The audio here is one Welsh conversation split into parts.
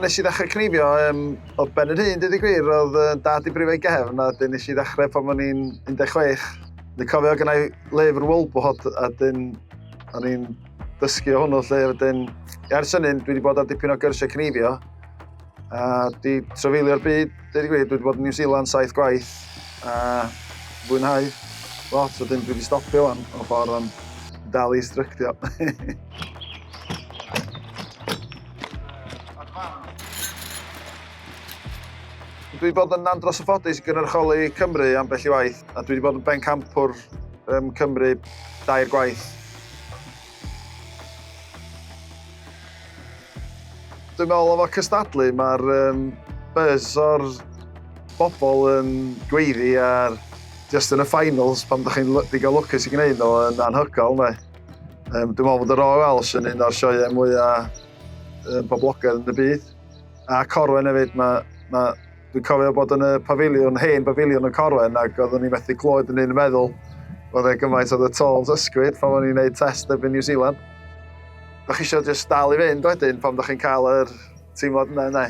Nes i ddechrau cnifio um, o ben yr hyn, dweud y gwir, oedd uh, dad i brifau gefn, a dyn nes i ddechrau pan o'n i'n 16. Dwi'n cofio gyda i lyfr Wolbot, a dyn o'n i'n dysgu o hwnnw lle, a dyn, i ars hynny, dwi wedi bod ar dipyn o gyrsiau cnifio, A di trafeilio'r byd, dweud i gweud, dwi wedi bod yn New Zealand saith gwaith a fwynhau lot, so dyn dwi wedi stopio o'n ffordd o'n dal i stryctio. Dwi wedi bod yn andros o ffodus i gynrychioli Cymru am bell i waith, a dwi wedi bod yn bencampwr um, Cymru dair gwaith. Dwi'n meddwl efo cystadlu mae'r um, buzz o'r bobl yn gweiddi ar just yn y finals pan ydych chi'n digon lwcus i gwneud nhw yn anhygol. Ne? Um, dwi'n meddwl bod y Royal Welsh yn un o'r sioeau mwyaf um, boblogaidd yn y byd. A Corwen hefyd, mae, mae Dwi'n cofio bod yn y pafiliwn, hen bafiliwn y Corwen, ac oeddwn ni methu clywed yn un meddwl oedd e gymaint oedd y tolls ysgwyd pan o'n i'n gwneud test erbyn New Zealand. Da chi eisiau just dal i fynd wedyn pan da chi'n cael yr teimlad yna, yna.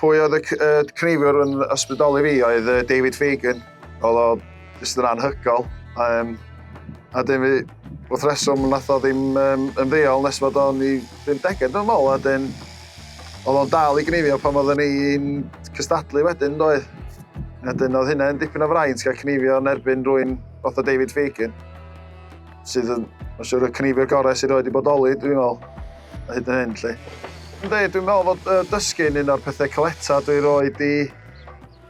Pwy oedd y, y cneifwr yn ysbrydoli fi oedd David Fagan. Oedd o jyst yn anhygoel. Um, a dyn fi, wrth reswm, nath o ddim um, yn ddeol nes fod o'n i ddim deged yn ôl, a dyn oedd o'n dal i gnifio pan oedden ni'n cystadlu wedyn, doedd. A dyn oedd hynna'n dipyn o fraint gael cnifio yn erbyn rwy'n fath o David Fagan, sydd yn, mae'n siŵr, y cnifio gorau sydd wedi bodoli, dwi'n meddwl, a hyd yn hyn, lle. Ynddi, dwi'n meddwl fod uh, dysgu'n un o'r pethau caleta dwi roed i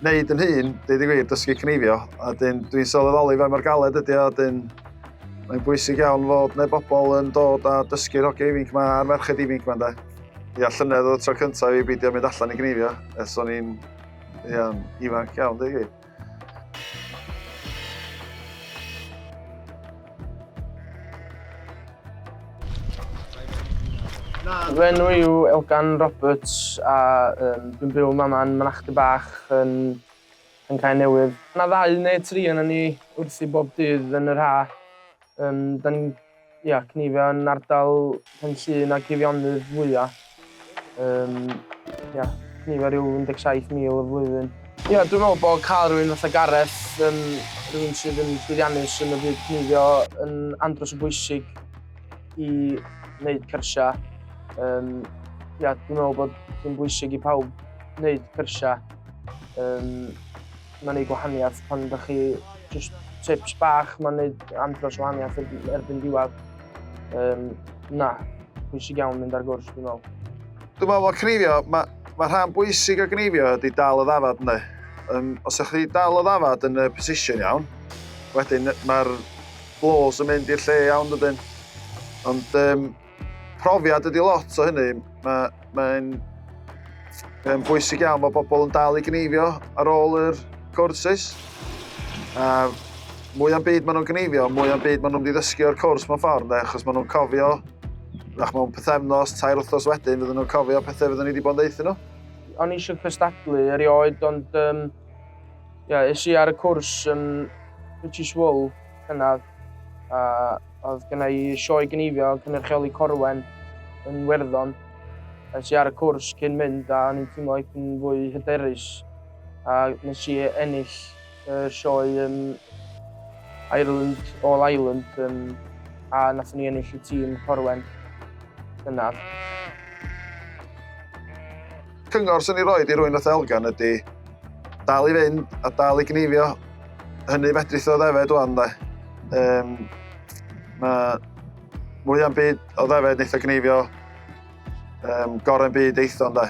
neud yn hun, deud y gwir, dysgu cneifio, a dyn dwi'n sylweddoli fe mor galed ydy o, dyn mae'n bwysig iawn fod neu bobl yn dod a dysgu'r hogiau ifinc yma a'r merched ifinc yma, de. Ia, llynedd oedd y tro cyntaf i beidio mynd allan i gneifio, ers o'n i'n ia, ifanc iawn, deud gwir. Fy enw yw Elgan Roberts a um, dwi'n byw yma yn Mynachdy Bach yn, yn cael newydd. Yna ddau neu tri yna ni wrthi bob dydd yn yr ha. Um, da ni'n ia, cnifio yn ardal pen sy'n ag Eifionydd fwya. Um, ia, nifer yw 17,000 y flwyddyn. Ia, yeah, dwi'n meddwl bod cael rhywun fatha Gareth, um, rhywun sydd yn llwyddiannus yn y byd cnifio, yn andros o bwysig i wneud cyrsiau. Um, ia, yeah, dwi'n meddwl bod yn bwysig i pawb wneud cyrsiau. Um, mae'n ei gwahaniaeth pan ydych chi just tips bach mae'n ei andros o wahaniaeth erbyn diwedd. Um, na, pwysig iawn mynd ar gwrs, dwi'n meddwl. Dwi'n meddwl bod cneifio, mae ma rhan bwysig o gneifio ydy dal o ddafad ynddo. Um, os ydych chi dal o ddafad yn y position iawn, wedyn mae'r blows yn mynd i'r lle iawn dydyn. Ond um, Profiad ydy lot o hynny. Mae'n mae um, bwysig iawn bod bobl yn dal i gneifio ar ôl yr courses. A mwy am byd maen nhw'n gneifio, mwy am byd maen nhw'n ddysgu o'r cwrs mewn ffordd, achos maen nhw'n cofio, nach mewn pethefnos, tair wrthos wedyn, fydden nhw'n cofio pethau fydden ni wedi bod yn ddeithio nhw. O'n eisiau cystadlu erioed, ond um, yeah, es i ar y cwrs um, British Wool cynnar, a oedd gyda i sioe gynifio cynrychioli Corwen yn Werddon. Nes i ar y cwrs cyn mynd a o'n i'n teimlo yn fwy hyderus a nes i ennill y sioe yn Ireland All Ireland yn, a nath ni ennill y tîm Corwen yna. Cyngor sy'n ei roed i rwy'n fatha Elgan ydy dal i fynd a dal i gneifio. Hynny fedrith o ddefed o'n dde. Um, mae mwy am byd o ddefed neitho gneifio um, gorau'n byd eitho dde.